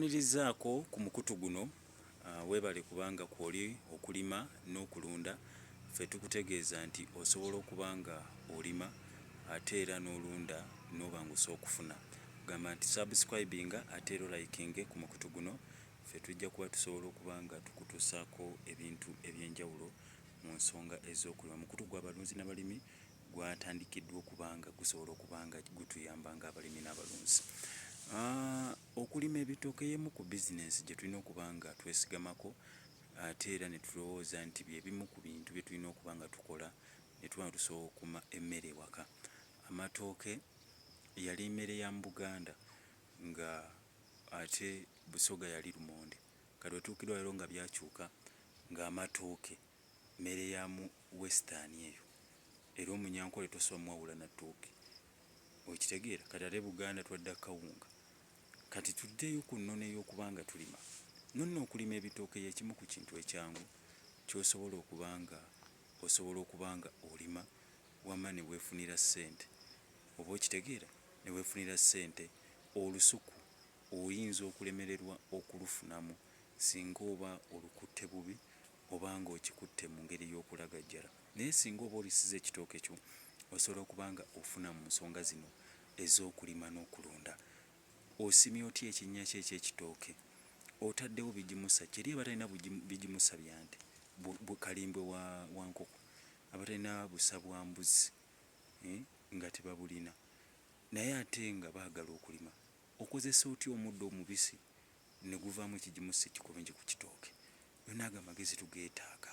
Nkuwanirizaako ku mukutu guno webale kubanga kwoli okulima n'okulunda ffe tukutegeeza nti osobola okuba nga olima ate era n'olunda n'obanguse okufuna gamba nti subscribinga ate era olayikinge ku mukutu guno ffe tujja kuba tusobola okuba nga tukutuusaako ebintu ebyenjawulo mu nsonga ez'okulima mukutu gwa balunzi nabalimi gwatandikiddwa okuba nga gusobola okuba nga gutuyamba ng'abalimi n'abalunzi. Okulima ebitooke y'emu ku bizinensi gye tulina okuba nga twesigamako ate era ne tulowooza nti bye bimu ku bintu bye tulina okuba nga tukola ne tuba nga tusobola okukuuma emmere ewaka. Amatooke yali mmere ya mu Buganda nga ate Busoga yali lumonde. Kati we tutuukiddwa leero nga byakyuka ng'amatooke. Mmere ya mu western eyo. Era omunyankole tosobola muwawula na tooke. Okitegeera? Kati ate Buganda twadda kukawunga. Kati tuddeyo ku nnono ey'okuba nga tulima. Nonno okulima ebitooke y'ekimu ku kintu ekyangu ky'osobola okuba nga osobola okuba nga olima wamma ne weefunira ssente. Oba okitegeera? Ne weefunira ssente. Olusuku oyinza okulemererwa okulufunamu singa oba olukutte bubi oba nga okikutte mu ngeri y'okulagajjala naye singa oba olisiza ekitooke kyo osobola okuba nga ofuna mu nsonga zino ez'okulima n'okulunda. Osimye otya ekinnya kyo eky'ekitooke? Otaddewo bigimusa ki eri abatalina bigimusa bya nte, kalimbwe wa nkoko, abatalina busa bwa mbuzi eh, nga tebabulina naye ate nga baagala okulima? Okozesa otya omuddo omubisi ne guvaamu ekigimusa ekikulungi ku kitooke. Byonna ago amagezi tugeetaaga.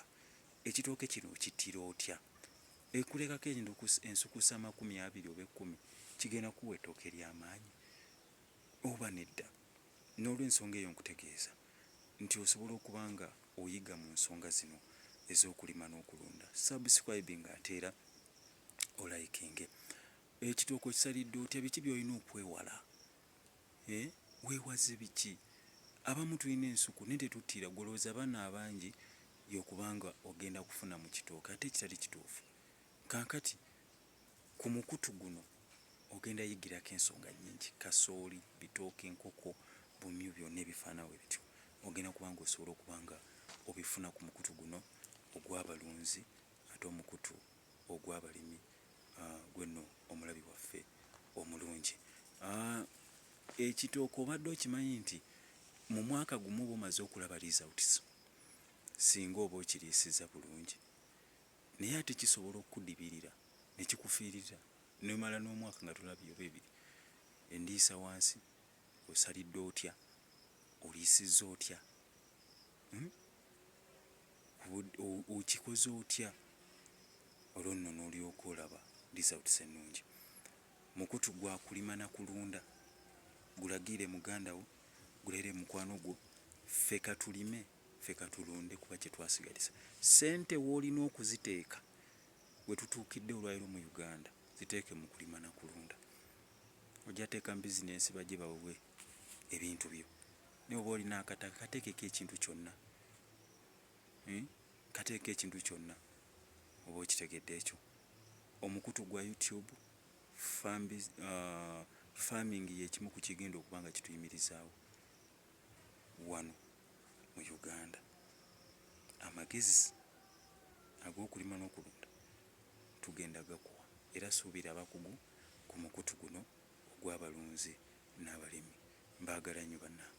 Ekitooke kino okittira otya? Ekulekako endukusa, ensukusa amakumi abiri oba ekkumi kigenda kukuwa ettooke ery'amaanyi oba nedda? N'olwensonga eyo nkutegeeza nti osobola okuba nga oyiga mu nsonga zino ez'okulima n'okulunda. Subscribinga ate era olayikinge. Ekitooke okisalidde otya? Biki by'olina okwewala Eeh wewaze biki abamu tulina ensuku naye tetutira gwe olowoza abana abanji yokuba nga ogenda kufuna mu kitooke ate ekitali kituufu kankati ku mukutu guno ogenda yigirako ensonga nyinji kasooli, bitooke, enkoko, bumyu byona ebifana webityo ogenda kuba nga osobola okuba nga obifuna ku mukutu guno ogwa balunzi ate omukutu ogw'abalimi gwe nno omulabi waffe omulungi. Ekitooke obadde okimanyi nti mu mwaka gumu oba omaze okulaba results singa oba okiriisizza bulungi naye ate kisobola okukudibirira ne kikufiirira n'omala n'omwaka nga tolabye oba ebiri endiisa wansi Osalidde otya? Oliisizza otya? Uhm? Okikoze otya? Olwo nno n'olyoka olaba results ennungi. Mukutu gwa kulima na kulunda gulagiire muganda wo, gulaire mukwano gwo, ffe ka tulime, ffe ka tulunde kuba kye twasigaliza. Ssente w'olina okuziteeka we tutuukidde olwaleero mu Uganda ziteeke mu kulima na kulunda. Ojja teeka mu business bajje bawewe ebintu byo naye oba olina akataka katekeko ekintu kyonna eeh kateeko ekintu kyonna oba okitegedde ekyo omukutu gwa you tube farm aah farming yekimu ku kigenda okuba nga kituyimirizaawo wano mu Uganda amagezi agokulima nokulunda. tugenda gakuwa era suubira abakugu ku mukutu guno ogw'abalunzi n'abalimi. Mbaagala nnyo bannange.